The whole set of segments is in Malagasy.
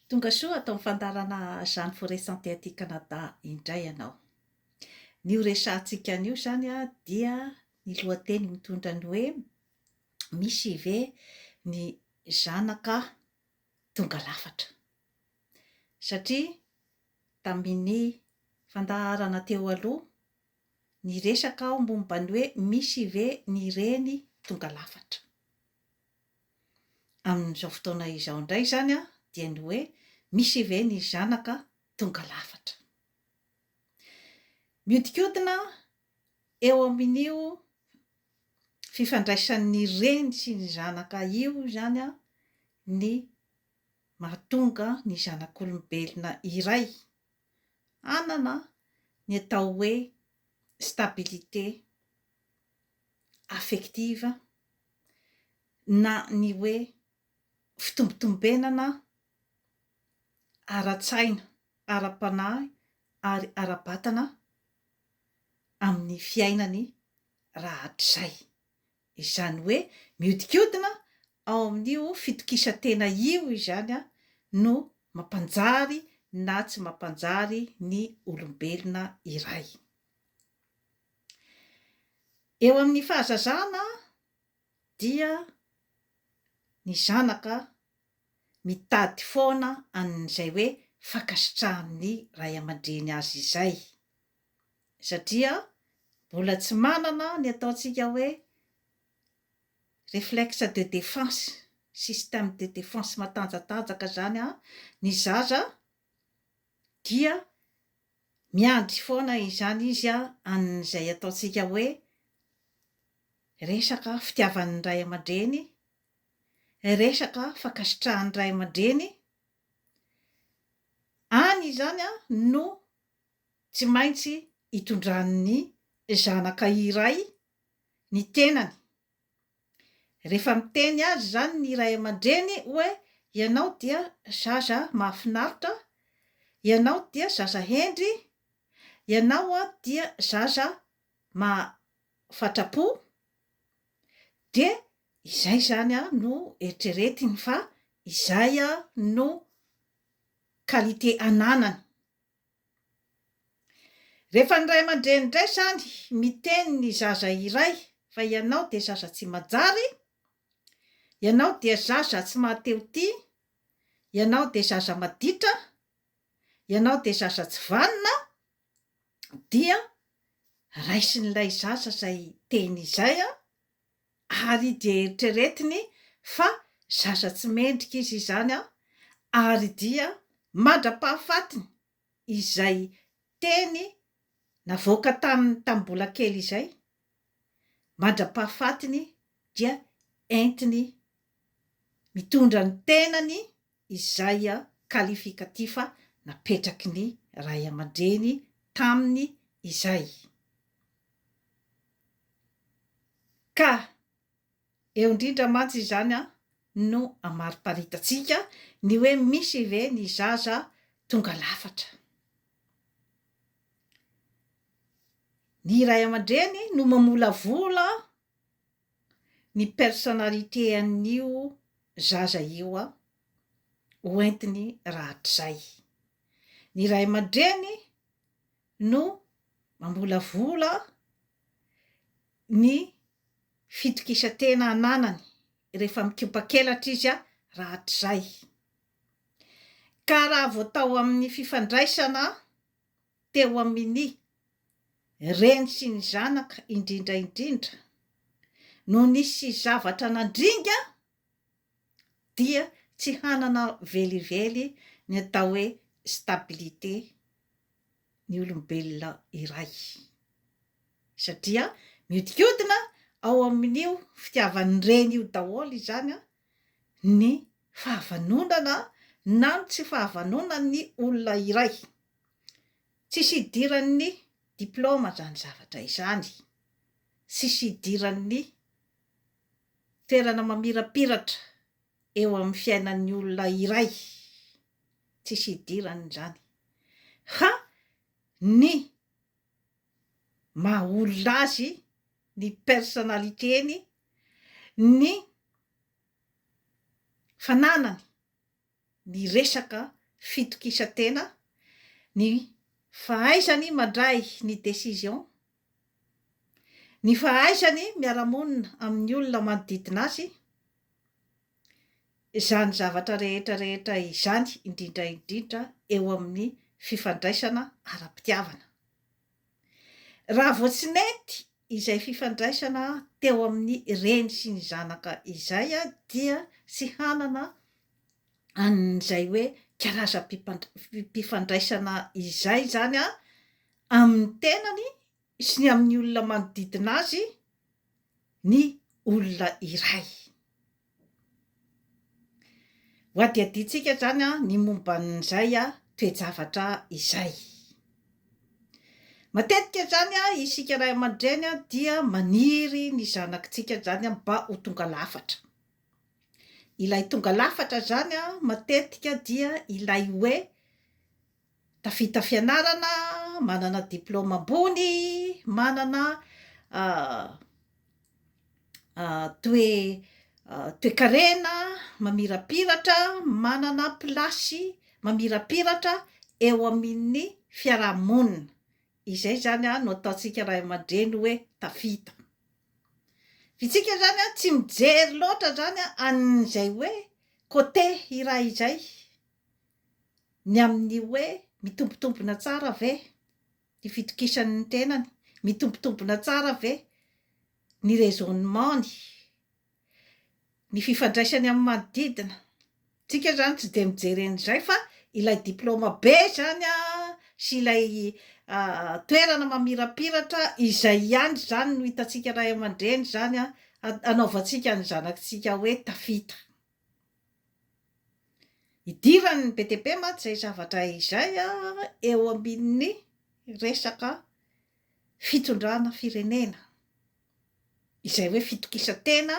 Tongasoa ato amin'ny fandaharana Jeanne Forêt Santé aty Canada indray ianao. Ny ho resahantsika anio izany dia ny lohateny mitondra ny hoe Misy ve ny zanaka tonga lafatra? Satria tamin'ny fandaharana teo aloha, niresaka aho momba ny hoe Misy ve ny reny tonga lafatra? amin'izao fotoana izao indray izany dia ny hoe misy ve ny zanaka tonga lafatra. Mihodinkodina eo amin'io fifandraisan'ny reny sy ny zanaka io izany ny mahatonga ny zanak'olombelona iray hanana ny atao hoe stabilité affective na ny hoe fitombotombenana ara-tsaina, ara-panahy ary ara-batana amin'ny fiainany rahatrizay. Izany hoe mihodinkodina ao amin'io fitokisan-tena io izany no mampanjary na tsy mampanjary ny olombelona iray. Eo amin'ny fahazazana dia ny zanaka mitady foana an'izay hoe fankasitrahan'ny ray aman-dreny azy izay satria mbola tsy manana ny ataontsika hoe reflexe de defense, système de defense matanjatanjaka izany ny zaza dia Miandry foana izany izy an'izay ataontsika hoe resaka fitiavan'ny ray aman-dreny, resaka fankasitrahan'ny ray aman-dreny, any izany no tsy maintsy itondran'ny zanaka iray ny tenany. Rehefa miteny azy izany ny ray aman-dreny hoe ianao dia zaza mahafinaritra, ianao dia zaza hendry, ianao dia zaza mahafatra-po, dia izay izany no eritreretiny fa izay no qualité ananany. Rehefa ny ray aman-dreny indray izany miteny ny zaza iray fa ianao dia zaza tsy manjary, ianao dia zaza tsy mahatehotia, ianao dia zaza maditra, ianao dia zaza tsy vanona dia raisin'ilay zaza izay teny izay. ary dia eritreretiny fa zaza tsy mendrika izy izany ary dia mandra-pahafatiny izay teny navoaka taminy tamin'ny mbola kely izay, mandra-pahafatiny dia entiny mitondra ny tenany izay kalifikativa napetraky ny ray aman-dreny taminy izay, ka eo indrindra mantsy izany no amariparitatsika ny hoe misy ve ny zaza tonga lafatra? Ny ray aman-dreny no mamolavola ny personnalité an'io zaza io a! ho entiny rahatrizay. Ny ray aman-dreny no mamolavola ny fitokisan-tena ananany rehefa mikopakelatra izy a! rahatrizay. Ka raha vao tao amin'ny fifandraisana teo amin' ny reny sy ny zanaka indrindra indrindra no nisy zavatra nandringa dia tsy hanana velively ny atao hoe stabilité ny olombelona iray satria miodikodina ao amin' io fitiavan' ny reny io daholo izany ny fahavanonana na ny tsy fahavanonan'ny olona iray. Tsisy idiran'ny diplaoma izany zavatra izany, tsisy idiran'ny toerana mamirapiratra eo amin'ny fiainan'ny olona iray, tsisy idiran'izany fa ny maha olona azy ny personnalitény ny fananany ny resaka fitokisantena ny fahaizany mandray ny décision ny fahaizany miara-monina amin'ny olona manodidina azy izany zavatra rehetra rehetra izany indrindra indrindra eo amin'ny fifandraisana ara-pitiavana. Raha vao tsy nety izay fifandraisana teo amin'ny reny sy ny zanaka izay dia tsy hanana an'izay hoe karazam-pifandraisana izay izany amin'ny tenany sy ny amin'ny olona manodidina azy ny olona iray. Ho adihadiantsika izany ny momba an'izay toe-javatra izay. Matetika izany isika ray aman-dreny dia maniry ny zanakitsika izany mba ho tonga lafatra. Ilay tonga lafatra izany matetika dia ilay hoe Tafita fianarana, manana diplaoma ambony, manana toe toekarena mamirapiratra, manana plasy mamirapiratra eo amin'ny fiaraha-monina. Izay izany no ataontsika ray aman-dreny hoe tafita. Fa isika izany tsy mijery loatra izany an'izay hoe côté iray izay. ny amin'ny hoe mitombontombona tsara ve ny fitokisany ny tenany, mitombontombona tsara ve ny raisonnement-ny, ny fifandraisany amin'ny manodidina. Tsika izany tsy dia mijery an'izay fa ilay diploma be izany sy ilay toerana mamirapiratra izay ihany izany no hitantsika ray aman-dreny izany hanaovantsika ny zanakitsika hoe tafita. Idiran'ny be dia be mantsy izay zavatra izay eo amin'ny resaka fitondrana firenena, izay hoe fitokisan-tena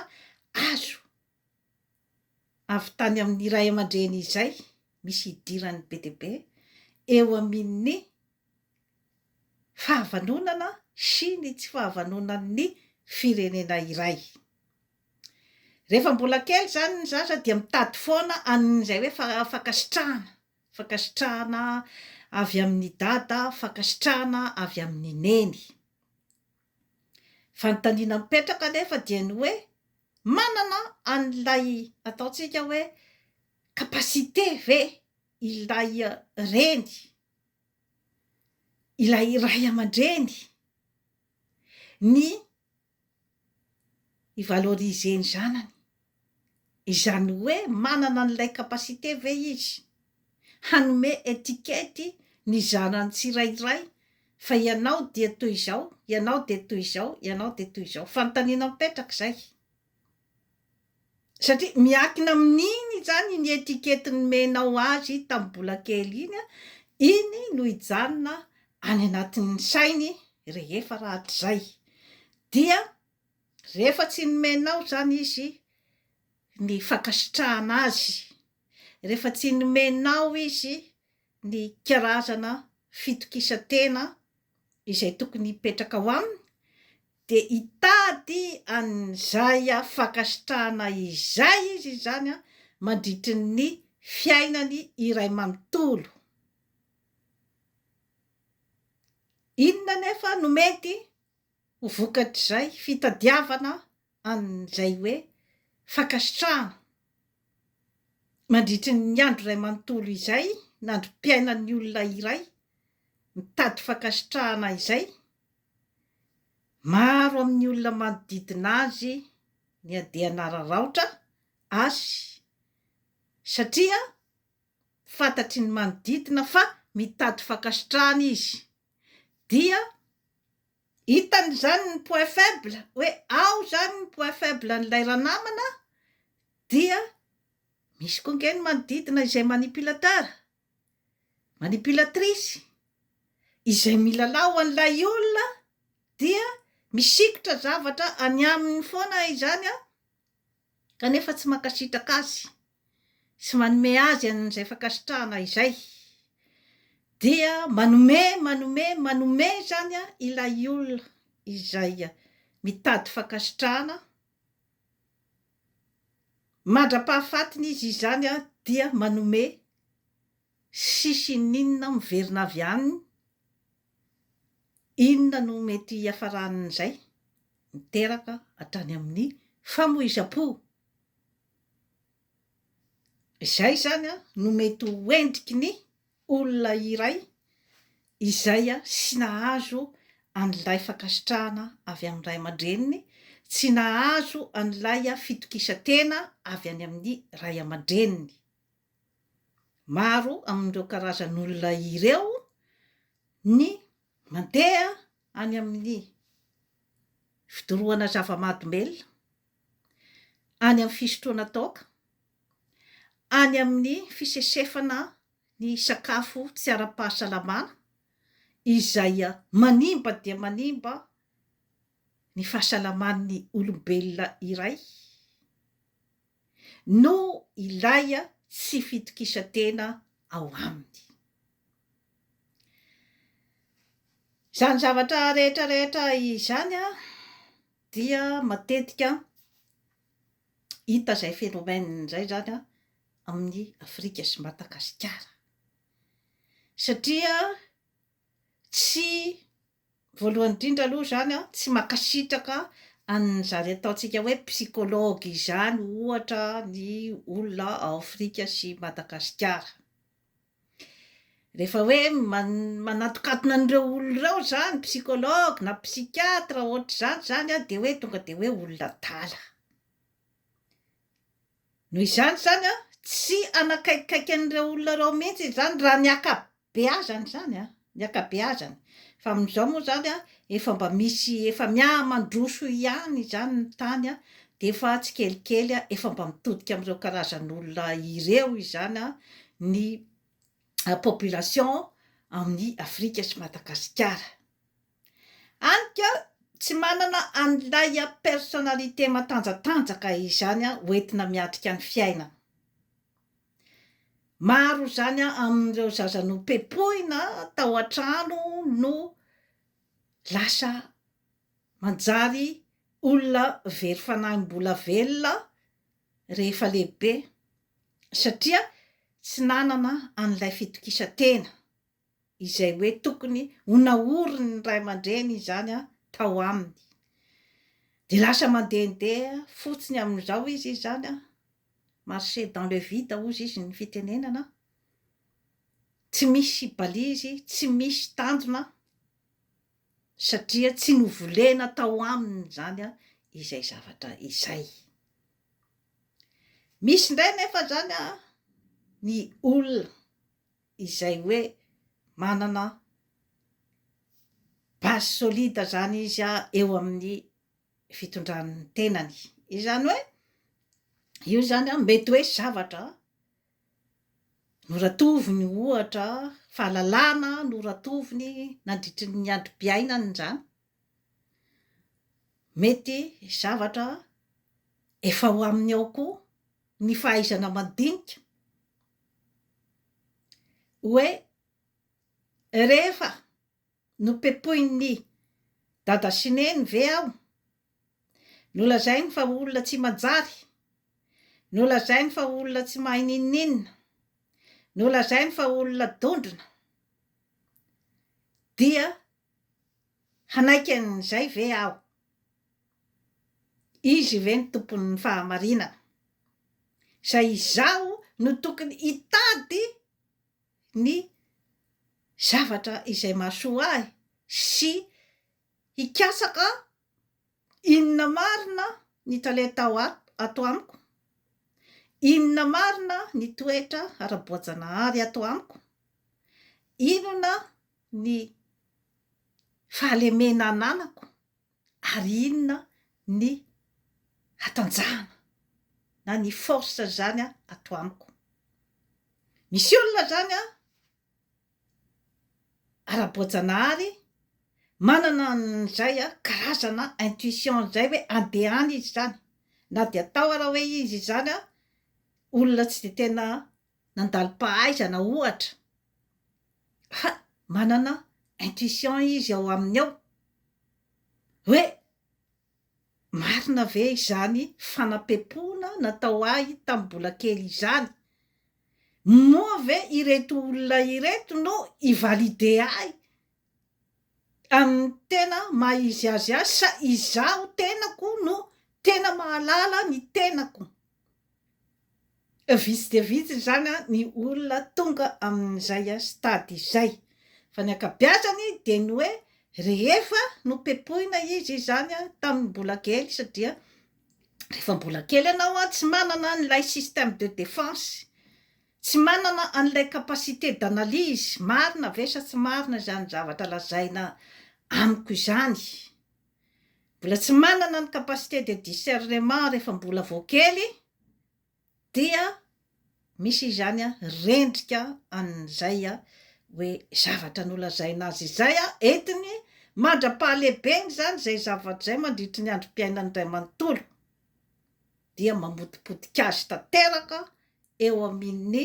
azo avy tany amin'ny ray aman-dreny izay, misy idiran'ny be dia be eo amin'ny fahavanonana sy ny tsy fahavanonan'ny firenena iray. Rehefa mbola kely izany ny zaza dia mitady foana an'izay hoe fankasitrahana, fankasitrahana avy amin'i Dada, fankasitrahana avy amin'i Neny. Fanontaniana mipetraka anefa dia ny hoe, manana an'ilay ataontsika hoe capacité ve ilay reny ilay ray aman-dreny ny hi-valoriser ny zanany, izany hoe manana an'ilay capacité ve izy hanome etikety ny zanany tsirairay fa ianao dia toy izao, ianao dia toy izao, ianao dia toy izao? Fanontaniana mipetraka izay. Satria miankina amin'iny izany iny étiquette nomenao azy tamin'ny mbola kely iny an, iny no hijanona any anatin'ny sainy rehefa rahatrizay dia rehefa tsy nomenao izany izy ny fankasitrahana azy, rehefa tsy nomenao izy ny karazana fitokisan-tena izay tokony hipetraka ao aminy, Dia hitady an'izay fankasitrahana izay izy izany mandritry ny fiainany iray manontolo. Inona anefa no mety ho vokatr'izay fitadiavana an'izay hoe fankasitrahana mandritry ny andro iray manontolo izay, na androm-piainan'ny olona iray mitady fankasitrahana izay? Maro amin'ny olona manodidina azy ny andian'araraotra azy satria fantatry ny manodidina fa mitady fankasitrahana izy. Dia hitany izany ny point faible, hoe ao izany ny point faible an'ilay ranamana dia misy koa ange ny manodidina izay manipilateur Manipulatrice, izay milalao an'ilay olona dia misikotra zavatra any aminy foana izany an, kanefa tsy mankasitraka azy sy manome azy an'izay fankasitrahana izay, dia manome, manome, manome izany an ilay olona izay mitady fankasitrahana, Mandra-pahafatiny izy izany dia manome sisiny inona miverina avy any, inona no mety hiafaran'izay miteraka hatrany amin'ny famoizam-po. Izay izany no mety ho endriky ny olona iray izay tsy nahazo an'ilay fankasitrahana avy amin'ny ray aman-dreniny, tsy nahazo an'ilay fitokisan-tena avy any amin'ny ray aman-dreniny. Maro amin'ireo karazan'olona ireo ny mandeha any amin'ny fidorohana zava-mahadomelina. any amin'ny fisotroana toaka, any amin'ny fisesefana ny sakafo tsy ara-pahasalamana izay manimba dia manimba ny fahasalaman'ny olombelona iray no ilay tsy fitokisan-tena ao aminy. Izany zavatra rehetra rehetra izany. Dia matetika hita izay phénomène izay izany amin'ny Afrika sy Madagasikara. Satria tsy, voalohany indrindra aloha izany an, tsy mankasitraka an'izany ataontsika hoe psychologue izany ohatra ny olona ao Afrika sy Madagasikara. Rehefa hoe man- manatokatona an'ireo olona ireo zany psychologue na psychiatre ohatr'izany zany a de hoe tonga de hoe olona adala, noho izany zany a tsy hanakaikikaiky an'ireo olona ireo mihitsy izy zany raha ny ankabeazany zany a. ny ankabeazany fa amin'izao moa izany a efa mba misy efa mihamandroso ihany izany ny tany a dia efa tsikelikely a efa mba mitodika amin'ireo karazan'olona ireo izany a ny population amin'i Afrika sy Madagasikara any ka tsy manana an'ilay personnalité matanjatanjaka izany a hoentina miatrika ny fiainana. Maro izany amin'ireo zaza nopepohina tao an-trano no lasa manjary olona very fanahy mbola velona rehefa lehibe satria tsy nanana an'ilay fitokisan-tena. izay hoe tokony ho naoriny ny ray aman-dreny izany tao aminy, dia lasa mandehandeha fotsiny amin'izao izy izany, marcher dans le vide hozy izy ny fitenenana, tsy misy balizy, tsy misy tanjona, satria tsy novolena tao aminy izany izay zavatra izay. Misy indray anefa izany ny olona. izay hoe manana base solide izany izy eo amin'ny fitondran'ny tenany. Izany hoe io izany mety hoe zavatra noratoviny ohatra, fahalalana noratoviny nandritry ny androm-piainany izany, mety zavatra efa ho aminy ao koa ny fahaizana mandinika hoe rehefa nopepoin'ny dada sy neny ve aho, nolazainy fa olona tsy manjary, nolazainy fa olona tsy mahay n'inon'inona, nolazainy fa olona dondrona, dia Hanaiky an'izay ve aho? Izy ve ny Tompon'ny fahamarinana, izay izaho no tokony hitady ny zavatra izay mahasoa ahy sy hikatsaka inona marina ny talenta ato amiko? Inona marina ny toetra ara-boajanahary ato amiko? Inona ny fahalemena ananako ary inona ny hatanjahana na ny force zany ato amiko. Misy olona zany an ara-boajanahary manana an'izay karazana intuition izay hoe andeha any izy zany na dia atao ara hoe izy izany olona tsy dia tena nandalo-pahaizana ohatra. Ha! manana intuition izy ao aminy ao hoe marina ve izany fanapepoana natao ahy tamin'ny mbola kely izany? Moa ve ireto olona ireto no hi-valider ahy amin'ny tena maha izy azy ahy sa izaho tenako no tena mahalala ny tenako? Vitsy dia vitsy izany ny olona tonga amin'izay stade izay. Fa ny ankabeazany dia ny hoe rehefa nopepohina izy izany tamin'ny mbola kely satria rehefa mbola kely ianao tsy manana an'ilay système de défense, tsy manana an'ilay capacité d'analyse, marina ve sa tsy marina izany zavatra lazaina amiko izany? mbola tsy manana ny capacité de discernement rehefa mbola vao kely dia misy izany rendrika an'izay hoe zavatra nolazaina azy izay entiny mandra-pahalehibeny izany izay zavatra izay mandritry ny androm-piainany iray manontolo dia mamotipotika azy tanteraka eo amin'ny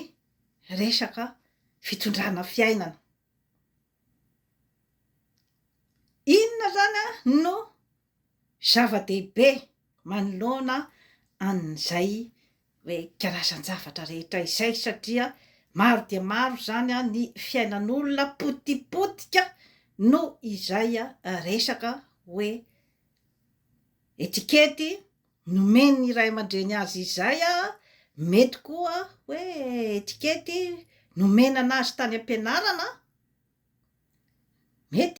resaka fitondrana fiainana. Inona izany no zava-dehibe manoloana an'izay hoe karazan-javatra rehetra izay satria maro dia maro izany ny fiainan'olona potipotika noho izay resaka hoe etikety. Nomen'ny ray aman-dreny azy izay, mety koa hoe etikety nomena anazy tany am-pianarana, mety.